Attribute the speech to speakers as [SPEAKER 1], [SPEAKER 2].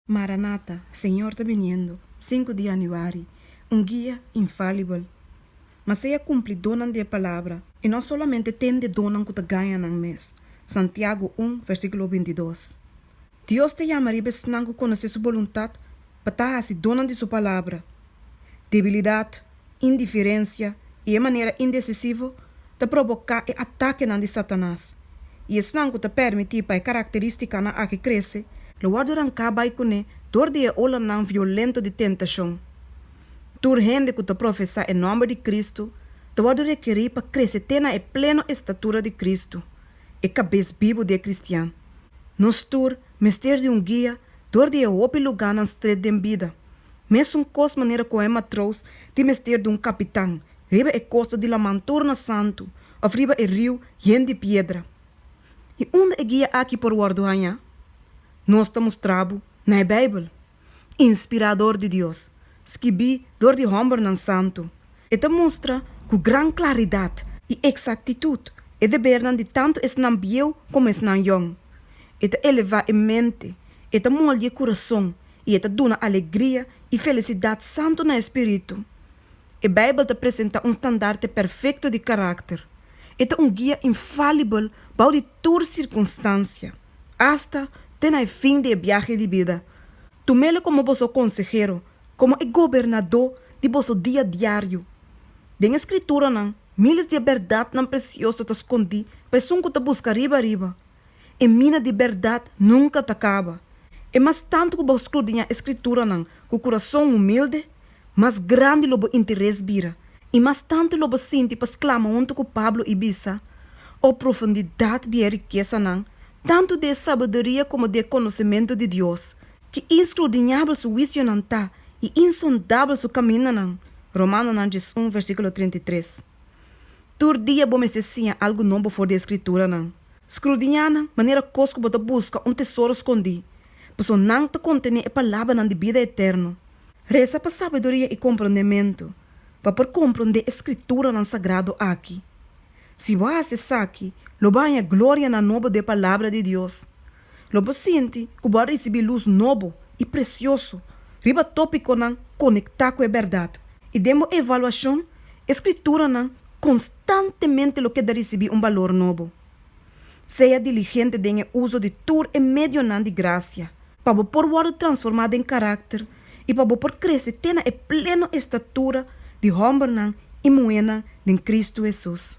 [SPEAKER 1] Maranata, Señor ta biniendo, sinku di Januari, un guia infalibel. Ma sea kumplidónan di e palabra, i no solamente ten di e donnan ku ta gaña nan mes, Santiago un, versíkulo binti i dos. Dios ta yama riba esnan ku konosé Su boluntat pa ta hasi donnan di Su palabra. Debilidat, indiferensia i e manera indesisivo ta provoká e atakenan di Satanas, i esnan ku ta pèrmití pa e karakterístikanan akí krese, lo wòrdu ranká bai kuné dor di e olanan violento di tentashon. Tur hende ku ta profesá e nòmber di Kristu ta wòrdu rekerí pa krese te na e pleno estatura di Kristu, e Kabes bibu di e kristian. Nos tur mester di un guia dor di e hopi lugánan stret den bida, Mesun kos manera ku e matrous tin mester di un kapitan riba e kosta di laman tur na Santu òf riba e riu yen di piedra. I unda e guia aki por wòrdu hañá? Nos ta mustra bo na e Beibel, inspirá dor di Dios, skibí dor di hòmbernan santu. E ta mustra ku gran klaridat i eksaktitut e debernan di tantu esnan bieu komo esnan yon. E ta elevá e mente, e ta moldi e kurason i e ta duna alegria i felisidat santu na e spiritu. E Beibel ta presentá un standarte perfekto di karakter. E ta un guia infalibel bou di tur sirkunstansia, asta te na e fin di e biahe di bida. Tumelo komo boso konsehero, komo e gobernadó di boso dia diario. Den e Skrituranan, miles di e bèrdatnan presioso ta skondí pa esun ku ta buska riba riba. E mina di bèrdat nunka ta kaba. E mas tantu ku bo skrudiñá e Skrituranan ku kurason humilde, mas grandi lo bo interes bira i mas tantu lo bo sinti pa sklama huntu ku Pablo i bisa, O profundidat di e rikesanan, tantu di e sabiduria komo di e konosementu di Dios! Ki inskrudiñabel su huisionan ta, i insondabel su kamindanan! Romanonan djesùn, versíkulo treinta i tres. Tur dia bo mester siña algu nobo for di e Skrituranan. Skrudiñá nan manera kos ku bo ta buska un tesoro skondí, pasobra nan ta kontené e palabranan di bida eterno. Resa pa sabiduria i komprondementu, pa por komprondé e Skrituranan sagrado akí. Si bo hasi esaki, lo bo haña gloria na nobo di e Palabra di Dios, Lo bo sinti ku bo a risibí lus nobo i presioso riba tópikonan konektá ku e bèrdat i den bo evaluashon e Skrituranan konstantemente lo ke ta risibí un balor nobo. Sea diligente den e uso di tur e medionan di grasia pa bo por wòrdu transformá den karakter i pa bo por krese te na e pleno estatura di hòmbernan i muhénan den Kristu Hesus.